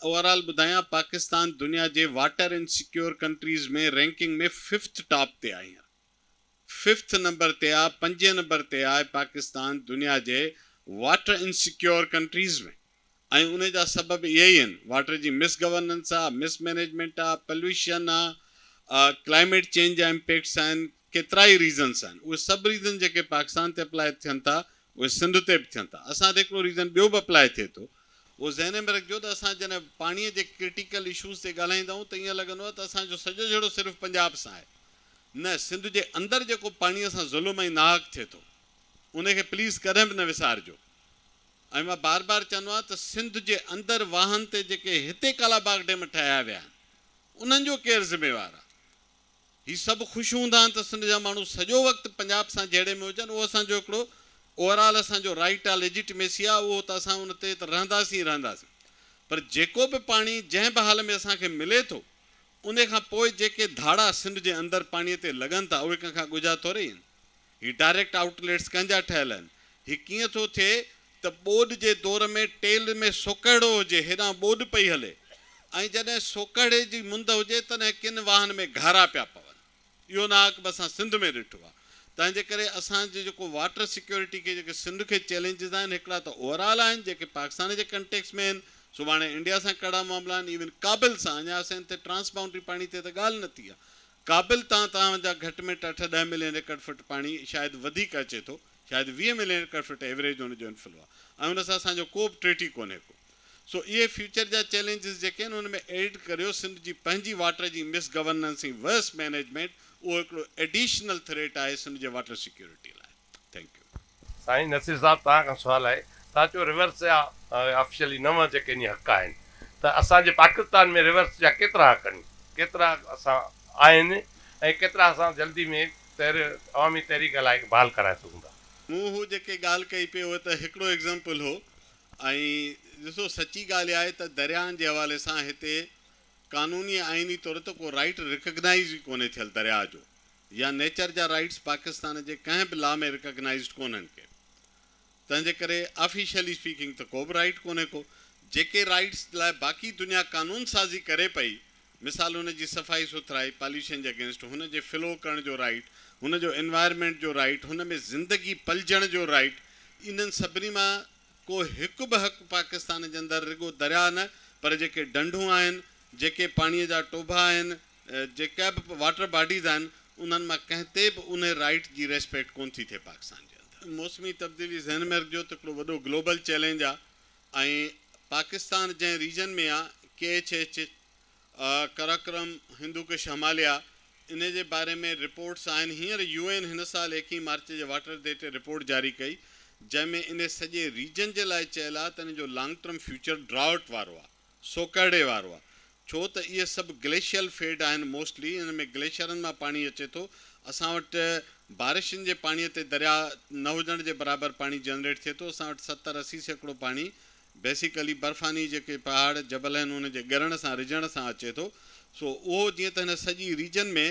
اوورآل ٻڌايان پاڪستان دنيا جي water insecure countries ۾ ranking ۾ fifth top تي آهي هينئر. ففٿ نمبر تي آ پنجين نمبر تي آهي پاڪستان دنيا جي واٽر انسيڪيور ڪنٽريز ۾ ۽ ان جا سبب اهي ئي آهن واٽر جي مس گورننس آ مس مينيجمينٽ آ پليوشن آ ڪلائميٽ چينج جا امپيڪٽس آهن ڪيترائي ريزنس آهن اهي سڀ ريزن جيڪي پاڪستان تي اپلائي ٿين ٿا اهي سنڌ تي به ٿين ٿا اسان تي هڪڙو ريزن ٻيو به اپلائي ٿئي ٿو اهو ذهن ۾ رکجو ته اسان جڏهن پاڻي جي ڪرٽيڪل اشوز تي ڳالهائيندا آهيون ته ائين لڳندو آهي ته اسان جو سڄو جهيڙو صرف پنجاب سان آهي نه سنڌ جي اندر جيڪو پاڻيء سان ظلم ۽ ناحق ٿئي ٿو ان کي پليز ڪڏهن به نه وسارجو ۽ مان بار بار چوندو آهيان ته سنڌ جي اندر واهن تي جيڪي هتي ڪالاباغ ڊيم ٺاهيا ويا آهن انهن جو ڪير ذميوار آهي؟ هي سڀ خوش هوندا آهن ته سنڌ جا ماڻهو سڄو وقت پنجاب سان جهيڙي ۾ هجن اهو اسان جو هڪڙو اوور آل اسان جو رائيٽ آهي ليجيٽميسي آهي اهو ته اسان ان تي ته رهنداسين ئي رهنداسين پر جيڪو به پاڻي جنهن به حال ۾ اسان کي ملي ٿو انهيء کان پوء جيڪي ڌاڙا سنڌ جي اندر پاڻيء تي لڳن ٿا، اهي ڪنهن کان ڳجها ٿورئي آهن؟ هي ڊائريڪٽ آئوٽ ليٽس ڪنهن جا ٺهيل آهن؟ هي ڪيئن ٿو ٿئي ته ٻوڏ جي دور ۾ ٽيل ۾ سوڪهڙو هجي، هيڏانهن ٻوڏ پئي هلي ۽ جڏهن سوڪهڙي جي مند هجي، تڏهن ڪن واهن ۾ گهارا پيا پون. اهو ناحق به اسان سنڌ ۾ ڏٺو آهي تنهنجي ڪري اسان جي جيڪو واٽر سيڪيورٽي کي جيڪي سنڌ کي چئلينجز آهن هڪڙا ته اوور آل آهن جيڪي پاڪستان جي ڪنٽيڪس ۾ آهن سڀاڻي انڊيا سان ڪڙا معاملا آهن ايون ڪابل سان اڃا اسين تي ٽرانس بائونڊري پاڻي تي ته ڳالهه نه ٿي آهي ڪابل تان توهان جا گهٽ ميٽ اٺ ڏهه ملين ايڪڙ فٽ پاڻي شايد وڌيڪ اچي ٿو شايد ويهه ملين ايڪڙ فٽ ايوريج ان جو انفلو آهي ۽ ان سان اسان جو ڪوبه ٽريٽي ڪونهي ڪو سو اهي فيوچر جا چئلينجز جيڪي آهن ان ۾ ايڊ ڪريو سنڌ جي پنهنجي واٽر جي مس گورننس ۽ ورس مينيجمينٽ اهو هڪڙو ايڊيشنل ٿريٽ آهي سنڌ جي واٽر سيڪيورٽي لاء ٿينڪ يو. سائين نصير صاحب توهان کان سوال آهي توهان چيو ريورس جا آفيشلي نو جيڪي ني حق آهن ته اسان جي پاڪستان ۾ ريورس جا ڪيترا حق آهن ڪيترا اسان آهن ۽ ڪيترا اسان جلدي ۾ تحر عوامي تحريڪ هلائي بحال ڪرائي سگهون ٿا. مون هو جيڪي ڳالهه ڪئي پئي اهو ته هڪڙو ايگزامپل هو ۽ ڏسو سچي ڳالهه اها آهي ته درياهن جي حوالي سان هتي قانوني ۽ آئيني طور ته ڪو رائيٽ ريڪگنائيز ئي ڪونهي ٿيل درياهه جو يا نيچر جا رائيٽس پاڪستان جي ڪنهن به لا ۾ ريڪگنائيزڊ ڪونهن ڪي تنهنجي ڪري آفيشلي اسپيڪنگ ته ڪو به رائيٽ ڪونهي ڪو جيڪي رائيٽس لاء باقي دنيا قانون سازي ڪري پئي مثال هن جي صفائي سٿرائي، پاليوشن جي اگينسٽ هن جي فلو ڪرڻ جو رائيٽ، هن جو انوائرمينٽ جو رائيٽ، هن ۾ زندگي پلجڻ جو رائيٽ، انهن سڀني مان ڪو هڪ به حق پاڪستان جي اندر رڳو درياء نه پر جيڪي ڍنڍون آهن، جيڪي پاڻيء جا ٽوڀا آهن، جيڪا به واٽر باڊيز آهن، انهن مان ڪنهن تي به ان رائيٽ جي ريسپيڪٽ ڪونه ٿي ٿئي پاڪستان جي اندر. موسمي تبديلي ذهن ۾ رکجو ته هڪڙو وڏو گلوبل چئلينج آ ۽ پاڪستان جنهن ريجن ۾ آ K H H, Karakoram, Hindu Kush Himalaya, ان جي باري ۾ رپورٽس آهن. هينئر يو اين هن سال ايڪيهن مارچ جي واٽر ڊي تي رپورٽ جاري ڪئي جنهن ۾ انهي سڄي ريجن جي لاء چيل آ ته ان جو لانگ ٽرم فيوچر ڊرائوٽ وارو آ. سو ڪهڙي وارو آ؟ ڇو ته اهي سڀ گليشيل فيڊ آهن موسٽلي ان ۾ گليشرن مان پاڻي اچي ٿو اسان وٽ بارشن جي پاڻي تي درياء نه هجڻ جي برابر پاڻي جنريٽ ٿئي ٿو اسان وٽ ستر اسي سيڪڙو پاڻي بيسيڪلي برفاني جيڪي پهاڙ جبل آهن ان جي ڳرڻ سان رجڻ سان اچي ٿو سو اهو جيئن ته هن سڄي ريجن ۾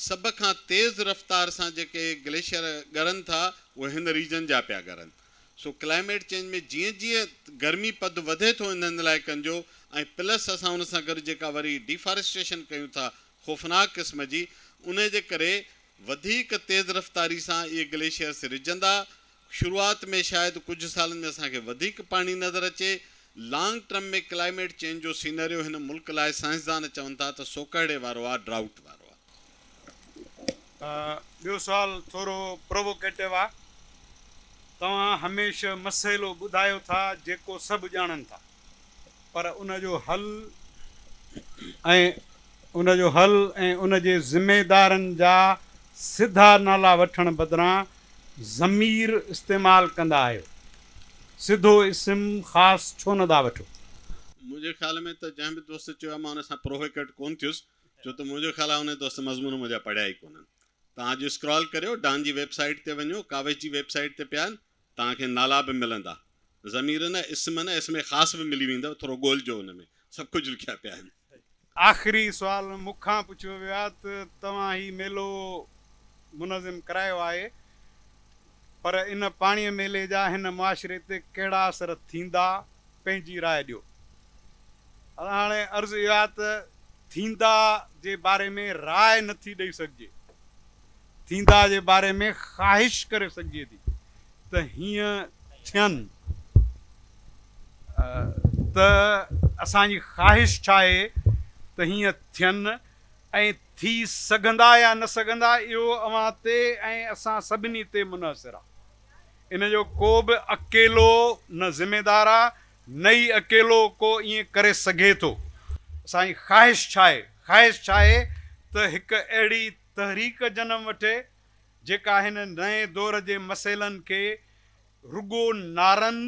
سڀ کان تيز رفتار سان جيڪي گليشيئر ڳرن ٿا اهي هن ريجن جا پيا ڳرن سو ڪلائميٽ چينج ۾ جيئن جيئن گرمي پد وڌي ٿو انهن علائقن جو ۽ پلس اسان ان سان گڏ جيڪا وري ڊيفاريسٽيشن ڪيون ٿا خوفناڪ قسم جي انهي جي ڪري وڌيڪ تيز رفتاري سان اهي گليشيئرس رجندا شروعات ۾ شايد ڪجهه سالن ۾ اسان کي وڌيڪ پاڻي نظر اچي. لانگ ٽرم ۾ ڪلائميٽ چينج جو سيناريو هن ملڪ لاء سائنسدان چون ٿا ته سوڪهڙي وارو آهي، Drought، وارو آهي. ٻيو سوال ٿورو پرووڪيٽو آهي. توهان هميشه مسئلو ٻڌايو ٿا جيڪو سڀ ڄاڻن ٿا. پر ان جو حل ۽ ان جو حل ۽ ان جي ذميدارن جا سڌا نالا وٺڻ بدران ضمير استعمال ڪندا آهيو. سڌو اسم خاص ڇو نه ٿا وٺو؟ منهنجي خيال ۾ ته جنهن به دوست چيو آهي مان ان سان پرووڪيٽ ڪونه ٿيس ڇو ته منهنجو خيال آهي انهي دوست مضمون منهنجا پڙهيا ئي ڪونهن. توهان اڄ اسڪرال ڪريو ڊان جي ويب سائيٽ تي وڃو ڪاوش جي ويب سائيٽ تي پيا آهن توهان کي نالا به ملندا. ضمير نه اسم نه اسم خاص به ملي ويندو ٿورو ڳولجو ان ۾ سڀ ڪجهه لکيا پيا آهن. آخري سوال مون کان پڇيو ويو آهي ته توهان هي ميلو منظم ڪرايو آهي پر ان پاڻي ميلي جا هن معاشري تي ڪهڙا اثر ٿيندا پنهنجي راء ڏيو. هاڻي عرض اهو آهي ته ٿيندا جي باري ۾ راء نٿي ڏئي سگهجي. ٿيندا جي باري ۾ خواهش ڪري سگهجي ٿي ته هيئن ٿين ته اسان جي خواهش ڇا آهي ته هيئن ٿين ۽ ٿي سگهندا يا نه سگهندا اهو اوهان تي ۽ اسان سڀني تي منحصر آهي ان جو ڪو به اڪيلو نه ذميدار آهي نه ئي اڪيلو ڪو ائين ڪري سگهي ٿو اسان جي خواهش ڇا آهي خواهش ڇا آهي ته هڪ اهڙي تحريڪ جنم وٺي جيڪا هن نئين دور جي مسئلن کي رڳو نعرن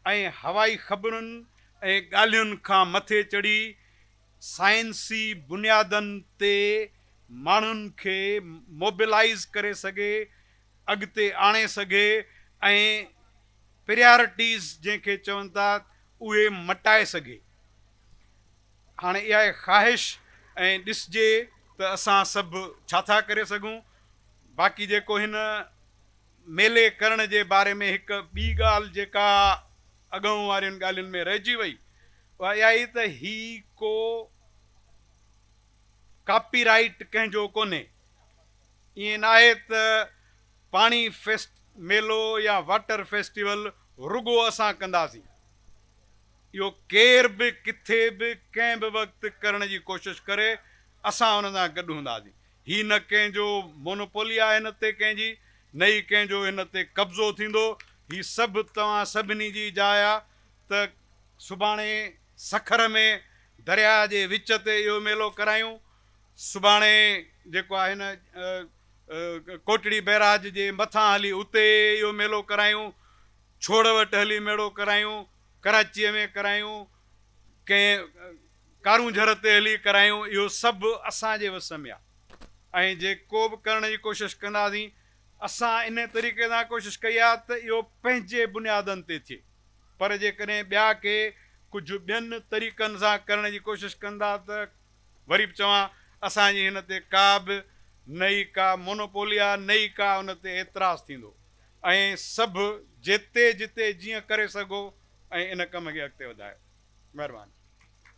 ۽ هوائي خبرن ۽ ڳالهين کان مٿي چڙهي سائنسي بنيادن تي ماڻهن کي موبلائيز ڪري سگهي، اڳتي آڻي سگهي ۽ پريارٽيز جنهن کي چون ٿا اهي مٽائي سگهي. هاڻي اها آهي خواهش ۽ ڏسجي ته اسان سڀ ڇا ٿا ڪري سگهون. باقي جيڪو هن ميلي ڪرڻ جي باري ۾ هڪ ٻي ڳالهه جيڪا اڳئون وارين ڳالهين ۾ رهجي وئي اها اها آهي ته هي ڪو ڪاپي رائيٽ ڪنهن جو ڪونهي. ائين ناهي ته پاڻي فيسٽ ميلو يا واٽر فيسٽيول رڳو اسان ڪنداسين. اهو ڪير به ڪٿي به ڪنهن به وقت ڪرڻ جي ڪوشش ڪري اسان ان سان گڏ هونداسين. هي نه ڪنهن جو مونوپولي آهي هن تي ڪنهن جي نه ئي ڪنهن جو هن تي قبضو ٿيندو. هي سڀ توهان سڀني جي جاء آهي ته سڀاڻي سکر ۾ درياء جي وچ تي اهو ميلو ڪرايون. سڀاڻي جيڪو آهي نه ڪوٽڙي بئراج جي مٿان هلي اتي اهو ميلو ڪرايون. ڇوڙ وٽ هلي ميڙو ڪرايون. ڪراچيء ۾ ڪرايون، ڪنهن ڪارون جھر تي هلي ڪرايون، اهو سڀ اسان جي وس ۾ آ ۽ جي ڪو به ڪرڻ جي ڪوشش ڪنداسين، اسان انهيء طريقي سان ڪوشش ڪئي آ ته اهو پنهنجي بنيادن تي ٿئي، پر جيڪڏهن ٻيا ڪي ڪجھه ٻين طريقن سان ڪرڻ جي ڪوشش ڪن ٿا ته وري به چوان اسان جي هن تي ڪا به نه ئي ڪا مونوپولي آ نه ئي ڪا ان تي اعتراض ٿيندو ۽ سڀ جتي جتي جيئن ڪري سگهو ۽ ان ڪم کي اڳتي وڌايو مهرباني.